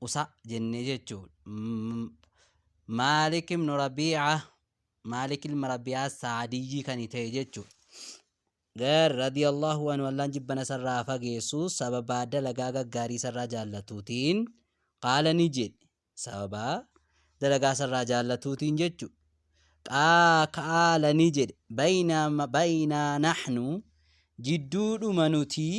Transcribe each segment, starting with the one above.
usa jennee jechuudha. M- Maalik ibn Rabiica Maalik ilma Rabiica Saadiyyii kan ta'e jechuudha. Gar radiyallahu anhu Allaan jibbana isarraa fageessu sababaa dalagaa gaggaarii isarraa jaallatuutiin qaala ni jedhe sababaa dalagaa isarraa jaallatuutiin jechuudha. Qaa kaala ni jedhe bayna bayna nahnu jidduudhuma nutii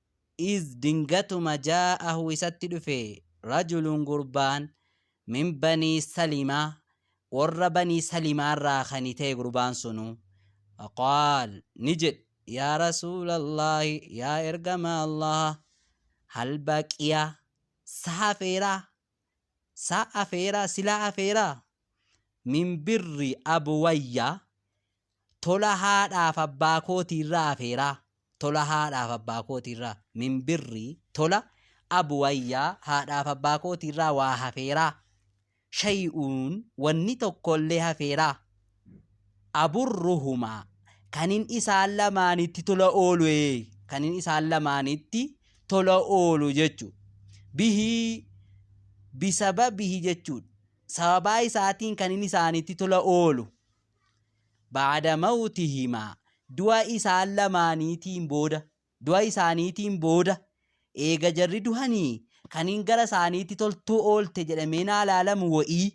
Iz dingatuma jaa'ahu isatti dhufe rajulun gurbaan min banii salima worra banii salimaa irraa kani ta'e gurbaan sunu faqaal ni jedhe yaa rasuulallahi yaa ergamaa allaha hal baqiya sa hafeera sa afeera sila afeera min birri abuwayya tola haadhaaf abbaa kootiirraa hafeeraa? Tola haadhaaf abbaa kootiirraa, min birri, tola, abuwayya, haadhaaf abbaa kootiirraa waa hafeeraa? Shay'uun, wanni tokkollee hafeeraa? Aburruhumaa, kanin isaan lamaanitti tola oolu ee, kanin isaan lamaanitti tola oolu jechu. Bihii, bisababihi jechuudha. Sababaa isaatiin kanin isaanitti tola oolu. ba'da mawtihimaa du'a isaan lamaaniitiin booda du'a isaaniitiin booda eega jarri duhanii kaniin gara isaaniitti toltuu oolte jedhamee naa laalamu wa'ii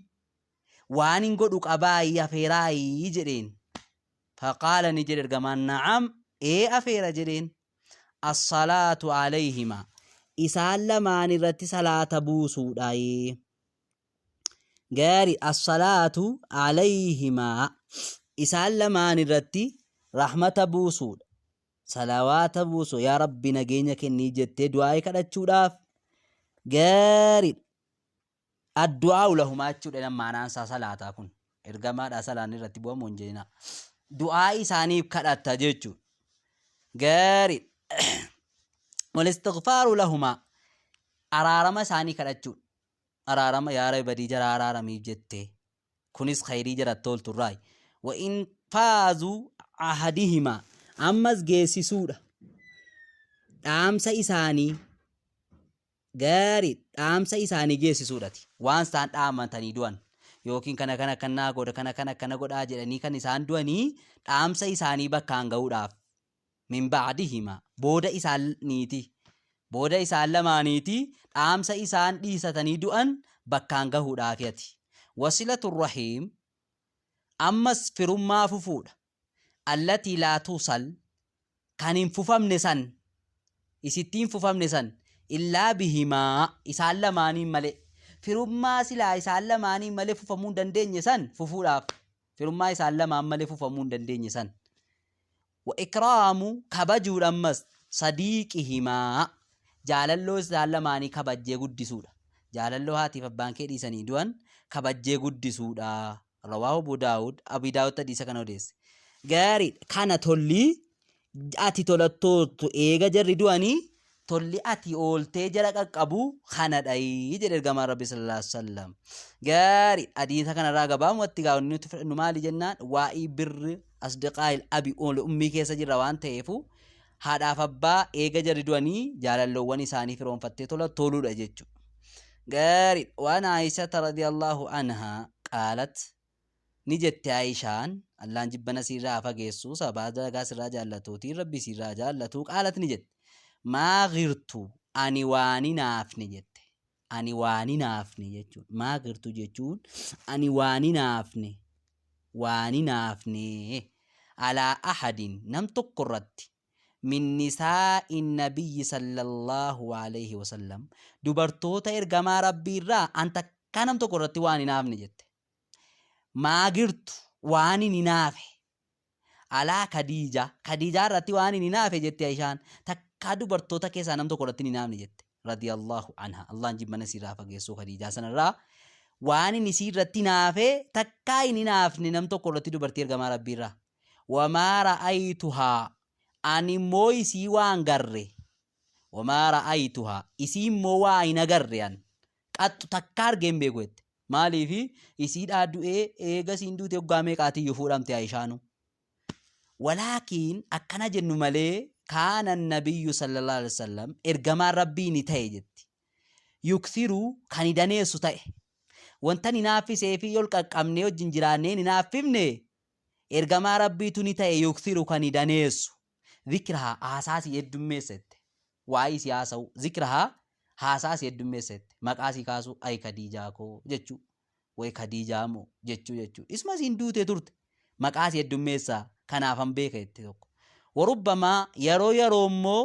waan hin godhu qabaayii afeeraayii jedheen faqaala ni jedhe ergamaan na'am ee afeera jedheen assalaatu alayhima isaan lamaan irratti salaata buusuudhaayee gaari assalaatu alayhimaa isaan lamaan irratti rahmata buusuudha salawaata buusu yaa rabbi nageenya kennii jettee du'aa'ee kadhachuudhaaf gaariidha addu'aa'u lahumaa jechuudha jedhan maanaan isaa salaataa kun ergamaadhaa salaanni irratti bu'amu hin jeenaa du'aa isaaniif kadhatta jechuudha gaariidha walistighfaaru lahumaa araarama isaanii kadhachuudha araarama yaa rabi badii jaraa araaramii jettee kunis khayrii jarat toltu irraayi wa in faazu ahadihimaa ammas geessisuudha dhaamsa isaanii gaarii dhaamsa isaanii geessisuudhati waan isaan dhaamatanii du'an yookiin kana kana kan naa godha kana kana akkana godhaa jedhanii kan isaan du'anii dhaamsa isaanii bakkaan ga'uudhaaf min ba'dihimaa, booda isaan niitii, booda isaan lamaaniitii dhaamsa isaan dhiisatanii du'an bakkaan gahuudhaafi ati. Wasilatu rahiim, ammas firummaa fufuudha. Allatii laa tusal, kan hin fufamne san, isittii hin fufamne san, illaa bihimaa, isaan lamaaniin malee. Firummaa silaa isaan lamaaniin malee fufamuu hin dandeenye san fufuudhaaf. Firummaa isaan lamaan malee fufamuu hin dandeenye san. Wa ikraamu kabajuudha ammas sadiiqihimaa jaalalloo isaan lamaanii kabajjee guddisuudha. Jaalalloo haatiif abbaan kee dhiisanii du'an kabajjee guddisuudha. Rawaahu Abu Daawud Abii Daawudtu hadiisa kana odeesse. Gaariidha kana tolli ati tolattoottu eega jarri du'anii tolli ati ooltee jala qaqqabu kanadhayi jedhe ergamaan rabbi sallallahu alaihi wasallam gaari hadiisa kanarraa gabaamatti gaa'onni nuti fudhannu maali jennaan waa'ii birri asdiqaayil abi oole ummii keessa jirra waan ta'eefu haadhaaf abbaa eega jarri du'anii jaalalloowwan isaanii firoonfattee tola toluudha jechuudha gaari waan aayisata radiyallahu anhaa qaalat Ni jette Aa'ishaan, Allaan jibbana siirraa haa fageessu, sababaa dalagaa sirraa jaallatuutiin Rabbii siirraa haa jaallatu, qaalat ni jette, Maa ghirtu, ani waan hin hafne jette, ani waan hin hafne jechuun, maa ghirtu jechuun, ani waan hin hafne, waan hin hafne, alaa ahadin, nam tokko irratti, min nisaa'i nabiyyi sallallahu alayhi wa sallam, dubartoota ergamaa Rabbii irraa an takkaa nam tokko irratti waan hin hafne jette. maagirtu waan hin hinaafe alaa kadiija kadiijaa irratti waan hin hinaafe jette aishaan takkaa dubartoota keessaa nam tokko irratti hin hinaafne jette radiyallahu anha allaan jibbana isiirraa fageessuu kadiijaa sanarraa waan hin isii irratti hinaafe takkaa hin hinaafne nam tokko irratti dubartii ergamaa rabbiirraa wamaa ra'aytuhaa ani immoo isii waan garre wamaa ra'aytuhaa isii immoo waa hin agarre an Qattu takkaa argee hin beeku jette. Maaliif isiidhaa du'ee eega isiin duute waggaa meeqaatiyyu fuudhamte Ayishaanu. Walaakiin akkana jennu malee kaana nabiyyu sallallahu alaihi wasallam ergamaan rabbii ni ta'e jetti. Yukthiru kan ni daneessu ta'e. Wanta ni naaffisee fi yol qaqqabnee wajjin jiraannee ni naaffifne ergamaa rabbiitu ni ta'e yukthiru kan ni daneessu. Zikrahaa, haasaa sii heddummeessa jette. Waa'ee isii haasa'uu. Zikrahaa, haasaa sii heddummeessa jette. Maqaa isii kaasuu, ayi Kadiijaa koo jechuu. Way Kadiijaa moo jechuu jechuu. Isuma isiin duutee turte. Maqaa isii heddummeessaa, kanaafan beeka jette tokko. Warubbamaa, yeroo yeroo immoo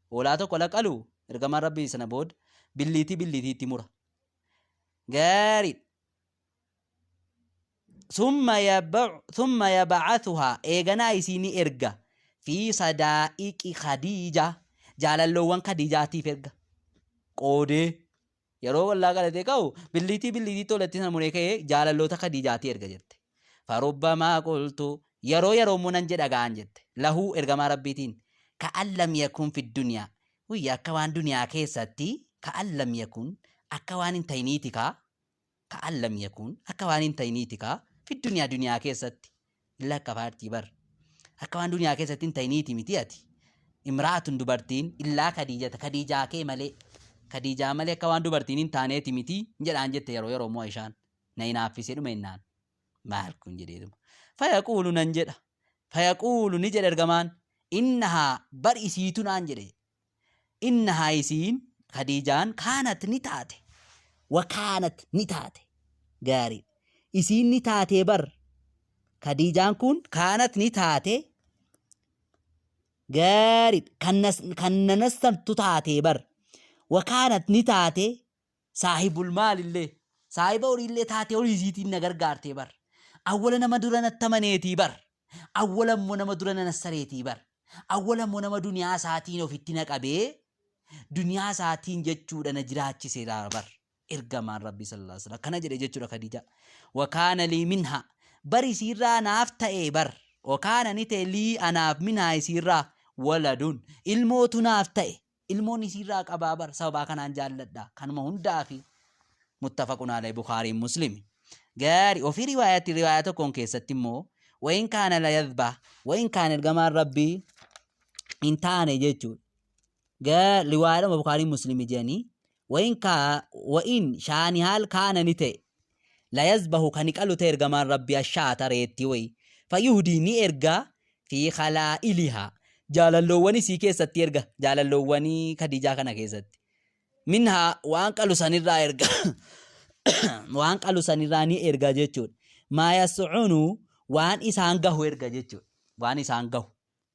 Hoolaa tokko la qalu ergamaan rabbii sana bood billiitii billiitii itti mura. Gaariidha. Summa yaba- summa yabacathuhaa eeganaa isii ni erga fi sadaa'iqi khadiija jaalalloowwan khadiijaatiif erga qoodee Yeroo ollaa qalatee ka'u billiitii billiitii toletti sana muree ka'ee jaalalloota Kadiijaatii erga jette. Farubbamaa qultu yeroo yeroo immoo nan jedha ga'an jette. Lahuu ergamaa rabbiitiin ka'an lam yakun fi duniyaa. Wuyya akka waan duniyaa keessatti ka'an lam yakun akka waan hin ta'iniiti kaa. ka'an lam yakuun akka waan hin ta'iniiti kaa fi duniyaa duniyaa keessatti hin lakkafaartii bar akka waan duniyaa keessatti hin ta'iniiti miti ati imraatun dubartiin illaa kadiijata kadiijaa kee malee kadiijaa malee akka waan dubartiin hin taaneeti miti hin jedhaan jette yeroo yeroo moo ishaan na hinaaffisee dhuma innaan maal kun jedheetuma fayaquulu nan jedha fayaquulu ni jedhe ergamaan innahaa bar isiitu naan jedhe Innahaa isiin, Khadiijaan, kaanat ni taate, wa kaanat ni taate, gaarii, isiin ni taatee bar, Khadiijaan kun, kaanat ni taate, gaarii, kan, kan nanastantu taatee bar, wa kaanat ni taate, Saahibul maalillee, saahiba horiillee taatee horii isiitiin na gargaartee bar. Awwala nama dura natti amaneetii bar. Awwala immoo nama dura na nassareetii bar. Awwala immoo nama duniyaa isaatiin ofitti na qabee duniyaa isaatiin jechuudha na jiraachiseera bar. Ergamaan Rabbii sallallahu alaihi wasallam akkana jedhe jechuudha Khadijaa. Wakaana lii minha bar isiirraa naaf ta'e bar. Wakaana ni ta'e lii anaaf minhaa isiirraa waladun ilmootu naaf ta'e. ilmoon isiirraa qabaa bar sababaa kanaan jaalladha kanuma hundaafi muttafaqun alay bukaariin muslimi gaari ofii riwaayatti riwaayaa tokkoon keessatti immoo wayin kaana la yadhbah wayin kaan ergamaan rabbii hin taane jechuudha gaa riwaayaadhuma bukaariin muslimi jedhanii Wain ka, wain shaani haal kaana ni ta'e, layazbahu kani qalu ta'e ergamaan Rabbii ashaata reettii wayi, fayuhdii ni erga fi khalaa'iliha jaalalloowwan isii keessatti erga, jaalalloowwan Khadiijaa kana keessatti. Minha waan qalu sanirraa erga, waan qalu sanirraa ni erga jechuudha. Maa yas'unu waan isaan gahu erga jechuudha. Waan isaan gahu.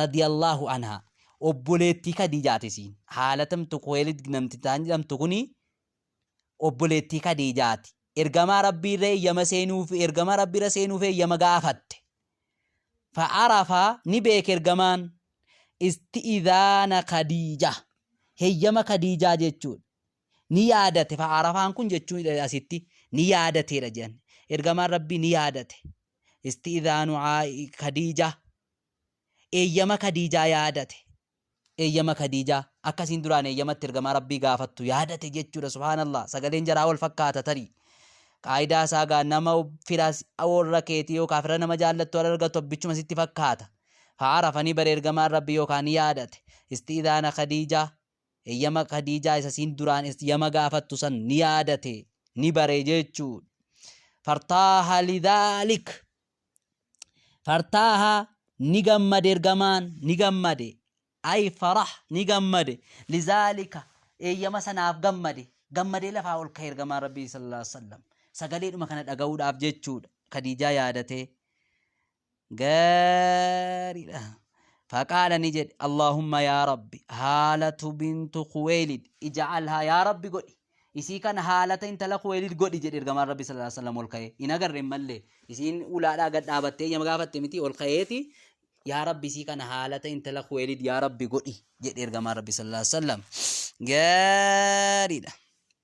radiyallaahu anhaa obboleettii kadiijaati isiin haalatamtu kuweelid namtitaan jedhamtu kuni obboleettii kadiijaati ergamaa rabbii irra eeyyama seenuuf ergamaa rabbii irra seenuuf eeyyama gaafatte fa'arafa ni beeke ergamaan isti'izaana kadiija heeyyama kadiijaa jechuudha Ni yaadate fa Arafaan kun jechuun dha asitti ni yaadatee dha jedhan. Ergamaan Rabbii ni yaadate. Isti'idhaanu Aa'i Kadiijaa. Eeyyama Kadiijaa yaadate. Eeyyama Kadiijaa. Akka isiin duraan eeyyama itti ergamaa Rabbii gaafattu yaadate jechuu dha. Subhaanallah. Sagaleen jaraa wal fakkaata tarii. Qaayidaa isaa gaa nama fira warra keetii yookaan fira nama jaallattu wal argattu abbichuma sitti fakkaata. Fa Arafanii bara ergamaan Rabbii yookaan ni yaadate. Isti'idhaana Kadiijaa. Eyyama Khadiijaa isa isiin duraan eyyama gaafattu san ni yaadate, ni bare jechuudha. Fartaaha lidhaalik. Fartaaha ni gammade ergamaan, ni gammade. Ay farah ni gammade. Lizaalika eeyyama sanaaf gammade. Gammadee lafaa ol ka'e ergamaan Rabbii sallallahu alaihi wasallam. Sagaleedhuma kana dhaga'uudhaaf jechuudha. Khadiijaa yaadatee. gaariidha. Faqaala ni jedhe Allaahumma yaa Rabbi haalatu bintu Kuweelid ija'alhaa yaa Rabbi godhi. Isii kana haalata intala Kuweelid godhi jedhe ergamaan Rabbi sallallahu alaihi wasallam ol ka'ee. Hin agarre hin mallee. Isiin ulaadhaa gad dhaabattee eeyyama gaafatte miti ol ka'eeti. Yaa Rabbi isii kana haalata intala Kuweelid yaa Rabbi godhi jedhe ergamaan Rabbi sallallahu alaihi wasallam. Gaariidha.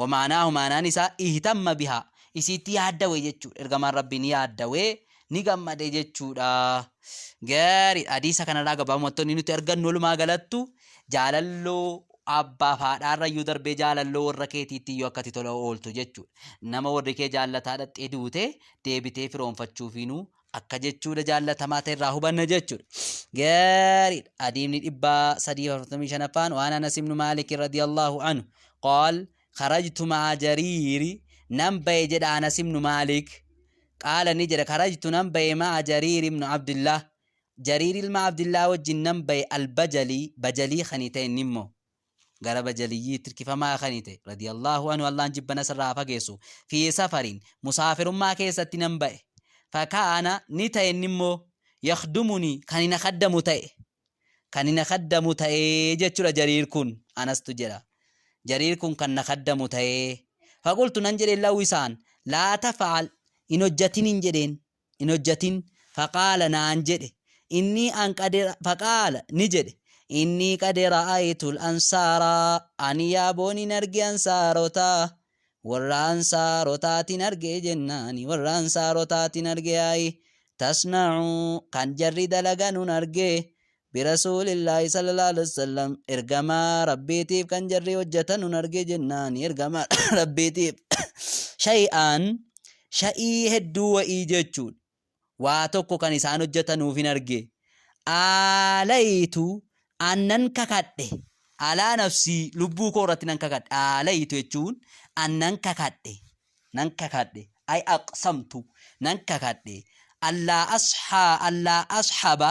Wamaanaahu maanaan isaa ihtamma bihaa isiitti yaaddawe jechuudha ergamaan rabbii ni yaaddawe ni gammade jechuudha gaariidha hadiisa kanarraa gabaabumatti inni nuti argannu walumaa galattu jaalalloo abbaaf haadhaarrayyuu darbee jaalalloo warra keetiitti iyyuu akkati tola ooltu jechuudha nama warri kee jaallataadha xeduute deebitee firoonfachuufiinuu akka jechuudha jaallatamaa ta'e irraa hubanna jechuudha. Gaariidha. Adiimni dhibbaa sadii afurtamii shanaffaan waan Anas ibnu Maalik radiyallahu anhu qaal kharajtu ma'a jariiri nan ba'e jedha Anas ibnu Maalik qaala ni jedha kharajtu nan ba'e ma'a jariiri ibnu Abdillah jariiri ilma Abdillah wajjin nan ba'e albajalii bajalii kan ta'e nimmoo gara bajaliyyiitti hirkifamaa kani ta'e radiyallahu anhu Allaan jibbana isarraa haa fageessu fi safarin musaafirummaa keessatti nan ba'e fakaana ni ta'e inni immoo yakhdumuni kani na kaddamu ta'e kani na kaddamu ta'e jechuudha jariir kun anastu jedha jariir kun kan na kaddamu ta'e faqultu nan jedheen lahu isaan laa tafa'al hin hojjatin hin jedheen hin hojjatin faqaala naan jedhe innii an qad faqaala ni jedhe innii qad ra'aytul ansaara ani yaaboon hin arge ansaarota warra ansaarotaatin arge jennaani warra ansaarotaatin arge ayi tasna'u kan jarri dalaganun arge Birasuulillaahi sallallaahu aleyhi wasallam, Ergamaa Rabbiitiif kan jarri hojjatanu hin arge jennaani Ergamaa Rabbiitiif shay'an shay'ii hedduu wa'ii jechuun waa tokko kan isaan hojjatanuuf hin arge aalaytu an nan kakadhe alaa nafsii lubbuu koo irratti nan kakadhe aalaytu jechuun an nan kakadhe nan kakadhe ay aqsamtu nan kakadhe allaa ashaa allaa ashaba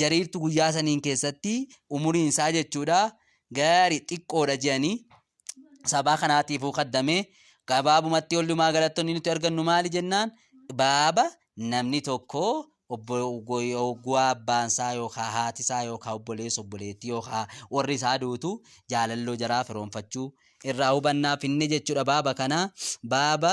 Jariirtu guyyaa saniin keessatti umuriin isaa jechuudha gaari xiqqoodha je'anii sabaa kanaatiifuu kaddame gabaabumatti ollumaa galattoonni nuti argannu maali jennaan baaba namni tokko oggaa abbaan isaa yookaan haati isaa yookaan obboleessa obboleettii yookaan warri isaa duutu jaalalloo jaraa firoonfachuu irraa hubannaa finne jechuudha baaba kana baaba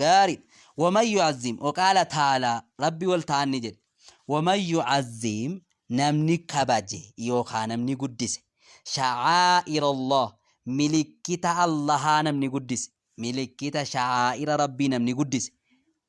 gaarii waman yu'azzim waqaala taalaa rabbi wal ta'an ni jedhe waman yu'azzim namni kabaje yookaa namni guddise sha'aa'ira allah milikkita allahaa namni guddise milikkita sha'aa'ira rabbii namni guddise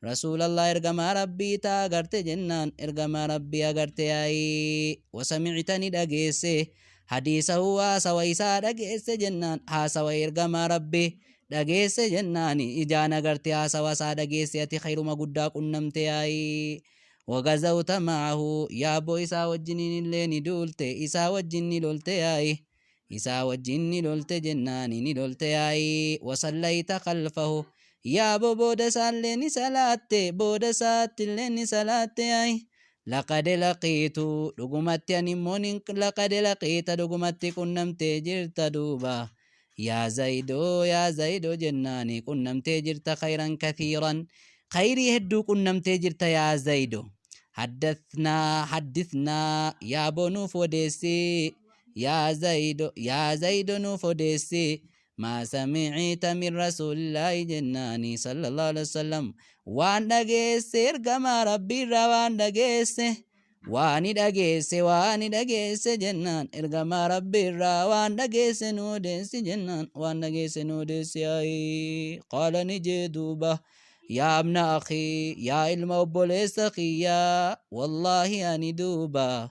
Rasuulallah ergamaa Rabbii ta agarte jennaan ergamaa Rabbii agarte yaa'i wasamicta ni dhageesse hadiisahu haasawa isaa dhageesse jennaan haasawa ergamaa Rabbi dhageesse jennaan ijaan agarte haasawa isaa dhageesse ati khayruma guddaa qunnamte yaa'i wagazawta ma'ahu yaabbo isaa wajjiniin illee ni duulte isaa wajjin ni lolte yaa'i Isaa wajjin ni lolte jennaani ni lolte yaa'i wasallayta khalfahu yaa boo booda isaallee ni salaatte booda isaattillee ni salaatte yaa'i laqad laqiitu dhugumatti ani immoo nin laqad laqiita dhugumatti qunnamtee jirta duuba yaa zayidoo yaa zayidoo jennaani qunnamtee jirta khayran kathiiran khayrii hedduu qunnamtee jirta yaa zayidoo haddathnaa haddithnaa yaa boo nuuf odeessii Yaa Zaydo, yaa Zaydo nuuf odeessi, maa sami'ita min Rasuulillaahi jennaani, Sallallaahu aleyhi wasallam, waan dhageesse ergamaa Rabbiirraa waan dhageesse, waani dhageesse, waani dhageesse jennaan, ergamaa Rabbiirraa waan dhageesse nu odeessi jennaan, waan dhageesse nu odeessi ayi, qaala ni jee duuba, yaa abna akhii, yaa ilma obboleessa kiyyaa, wallaahi ani duuba,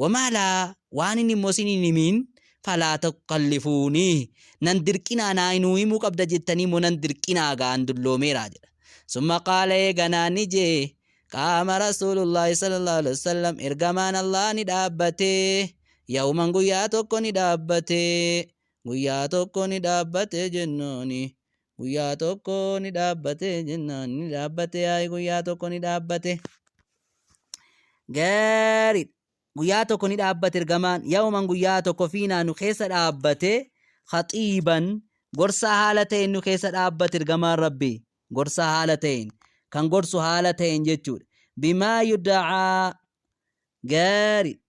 Wamaa laa waan inni immoo isiniin himiin falaa tukallifuunii nan dirqinaa naa hinuu himuu qabda jettanii immoo nan dirqinaa gaa an dulloomeeraa jedha. Summa qaala eeganaa ni jee qaama rasuulullaahi sallallahu alaihi wasallam ergamaan Allaah ni dhaabbatee yawman guyyaa tokko ni dhaabbatee guyyaa tokko ni dhaabbatee jennaanii Guyyaa tokko ni dhaabbate jennaan ni dhaabbate yaa'i guyyaa tokko ni dhaabbate. Gaariidha. Guyyaa tokko ni dhaabbate ergamaan yawman guyyaa tokko fiinaa nu keessa dhaabbate khaxiiban gorsaa haala ta'een nu keessa dhaabbate ergamaan rabbi gorsaa haala ta'een kan gorsu haala ta'een jechuudha. Bimaa yuda'aa gaarii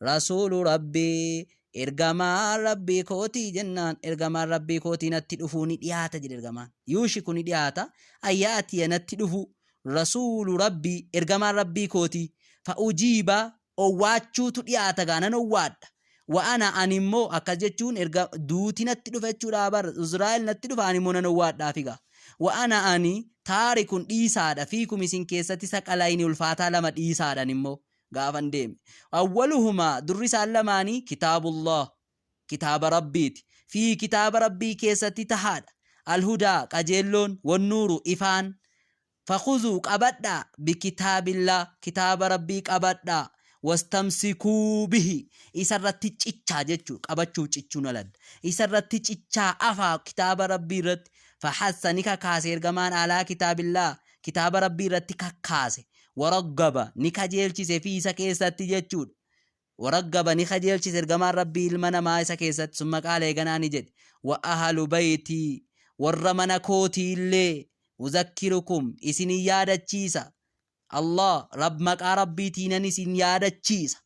Rasuulu Rabbii, Ergamaa Rabbii kootii jennaan, Ergamaan Rabbii kootii natti dhufuu ni dhiyaata jedhe Ergamaan. Yuushiku ni dhiyaata, an ya'atiya natti dhufuu, Rasuulu Rabbii, Ergamaan Rabbii kootii, fa ujiiba, owwaachuutu dhiyaata gaa nan owwaadha, wa ana ani immoo akkas jechuun erga duuti natti dhufa jechuudha bar, Uzraa'il natti dhufa ani immoo nan owwaadhaafi gaa. Wa ana ani taarikun dhiisaadha fiikum isin keessatti saqalayni ulfaataa lama dhiisaadha ani immoo. gaafan deeme. Awwaluhumaa durri isaan lamaanii kitaabullaah kitaaba Rabbiiti. Fiihi kitaaba Rabbii keessatti tahaadha. Alhudaa qajeelloon, wannuuru ifaan. Fakhuzuu qabadhaa bikitaabillaah kitaaba Rabbii qabadhaa. Wastamsikuu bihi isarratti cichaa jechuudha. Qabachuuf cichuun aladda. Isarratti cichaa afaa kitaaba Rabbii irratti. Fahassa ni kakaase ergamaan alaa kitaabillaah kitaaba Rabbii irratti kakkaase. waraggaba ni kajeelchise fi isa keessatti jechuudha. waraggaba ni kajeelchise ergamaan rabbii ilma namaa isa keessatti summa qaala eeganaa ni jedhe wa ahalu baytii warra mana kootii illee uzakkirukum isin yaadachiisa Allah rab maqaa rabbiitiinan isin yaadachiisa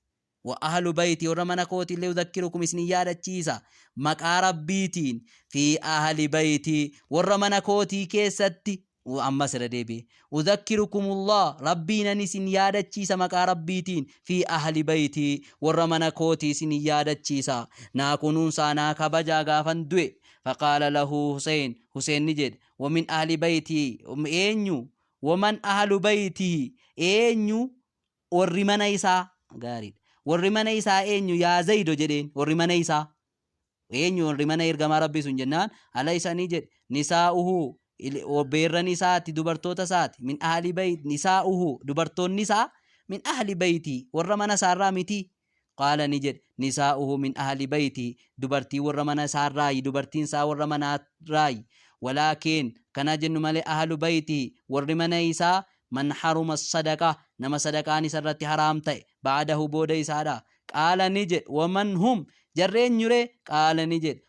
Wa ahlu bayti, warra mana kootiillee udhakkirukum isin yaadachiisa, maqaa Rabbiitiin, fi ahli bayti, warra mana kootii keessatti, u ammas irra deebi'e, udhakkirukumullah, Rabbiinan isin yaadachiisa maqaa Rabbiitiin, fi ahli bayti, warra mana kootii isin yaadachiisa, naa kunuunsaa, naa kabajaa gaafan du'e. Faqaala lahu Huseen, Huseen ni jedhe, wa min ahli bayti, eenyu? Wa man ahlu baytihi, eenyu Warri mana isaa, gaarii dha. Warri mana isaa eenyu? Yaa Zayido jedheen. Warri mana isaa. Eenyu warri mana ergamaa Rabbii sun jennaan? Ala isa ni jedhe. Nisaa'uhu, il- o- beerran isaati, dubartoota isaati. Min ahli bayit, nisaa'uhu, dubartoonni isaa. Min ahli bayitii, warra mana isaarraa mitii. Qaala ni jedhe, Nisaa'uhu min ahli baytihi, dubartiin warra mana isaa irraayi, dubartiin isaa warra manaa irraayi. Walaakin, kan haa jennu malee, ahlu baytihi, warri mana isaa, man haruma as-sadaqah, nama sadaqaan isa irratti haraam ta'e, ba'dahu, booda isaadhaa. Qaala ni jedhe, Wa man hum, jarri eenyuree? Qaala ni jedhe,